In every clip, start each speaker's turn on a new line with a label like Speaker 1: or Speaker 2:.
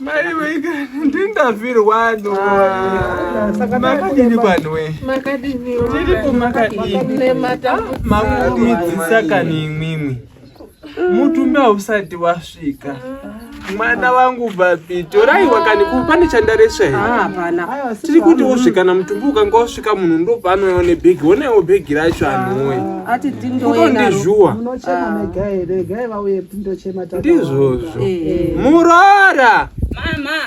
Speaker 1: Mai wega
Speaker 2: ndingafirwa no. Ah, makadini panwe? Makadini. Tiri
Speaker 3: kumakadini.
Speaker 2: Makudzi saka nimimi. Mutumbi hausati wasvika. Mwana wangu babi, torai wakani kupane chandareswa here? Ah, hapana. Tiri
Speaker 4: kuti wosvika
Speaker 2: na mutumbi ukanga wasvika munhu ndo pano ne bag. Onewo bag racho anhuwe. Ah, ati tindoenda.
Speaker 4: Kutondizhuwa. Munochema
Speaker 2: mega
Speaker 4: here? Gai vauye tindochema tata. Ndizvozvo.
Speaker 2: eh. muroora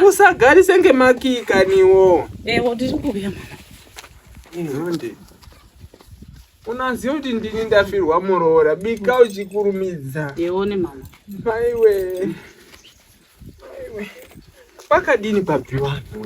Speaker 1: usagarise
Speaker 2: ngemakika niwo ewo ndiri kuuya
Speaker 1: mama inhonde
Speaker 2: unaziva kuti ndini ndafirwa muroora bika uchikurumidza yeone mama
Speaker 1: maiwe
Speaker 2: maiwe pakadini pabviwanhu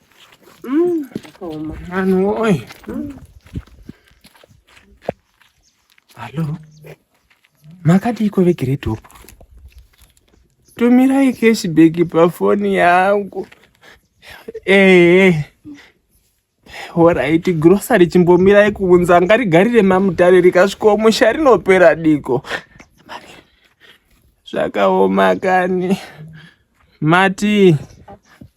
Speaker 2: Mm, zvakaoma. Vanhu woye. Mm. Hallo. Makadiiko veGreat Hope? Tumirai cashback pafoni yangu. Ehe. Eh. Horaiti grocery chimbomirai kuunza ngarigarire mamutare rikasvikawo musha rinopera diko. Zvakaoma kani. Mati.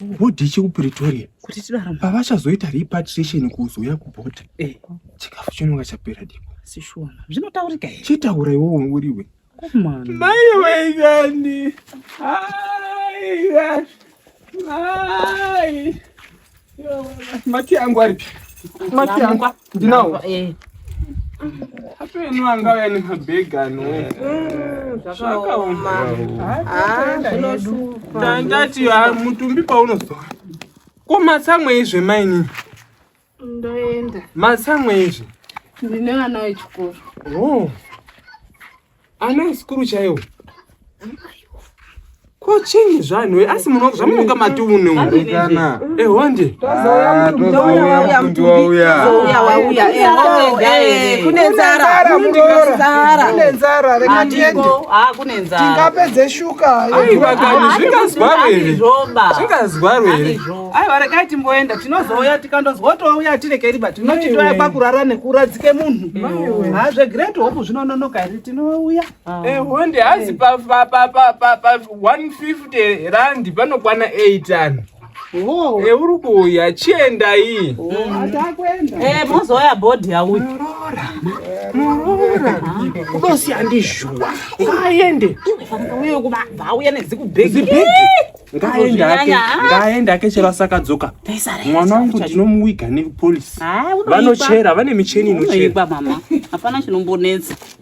Speaker 2: bhodhi chekupretoria kuti tidaramba
Speaker 1: pavachazoita repatriation
Speaker 2: kuzouya kubhodhi eh. chikafu chinonga chapera dipo sishona zvinotaurika
Speaker 1: here chitaura iwowo uriwe
Speaker 2: mai waigani mai mati yangu aripi mati yangu ndinawo eh. apeno angauya nemabhegi anoakaomandati ah, mutumbi paunozoa ko matsamwe izve maini
Speaker 3: ndoenda matsamwe
Speaker 2: izve ndine vana
Speaker 3: vechikoro oh.
Speaker 2: ana asikuru chaiwo ko chinyi zvanhu we asi muno zvamunoka mati une urekana
Speaker 5: ehonde
Speaker 2: tozouya mtumbi
Speaker 4: wauya tozouya wauya ehonde eh, eh,
Speaker 1: kune nzara mundinosara
Speaker 4: kune nzara reka tiende ah kune nzara
Speaker 1: tingapedze shuka
Speaker 4: ayi vakani
Speaker 2: zvingazwarwe zvingazwarwe aiwa regai timboenda
Speaker 4: tinozouya tikandonzwa kuti wauya tirekeri but unoti toya pakurara nekuradzike munhu ha zvegreat hope zvinononoka here tinouya honde eh,
Speaker 2: hazi pa 150 randi panokwana 8 ani Oh. Eh, uri kuuya chienda iyi oh, eh,
Speaker 1: mozouya bhodhi yauyi muroora muroora
Speaker 2: udosiya ndizhuwa aende iwe fanira uye kubva
Speaker 1: auya nedzikubhegi ngaenda ake
Speaker 2: ngaenda ake chero asakadzoka mwana wangu ndinomuwiga nekupolisi vanochera vane micheni inochera
Speaker 1: mama
Speaker 2: hapana
Speaker 1: chinombonetsa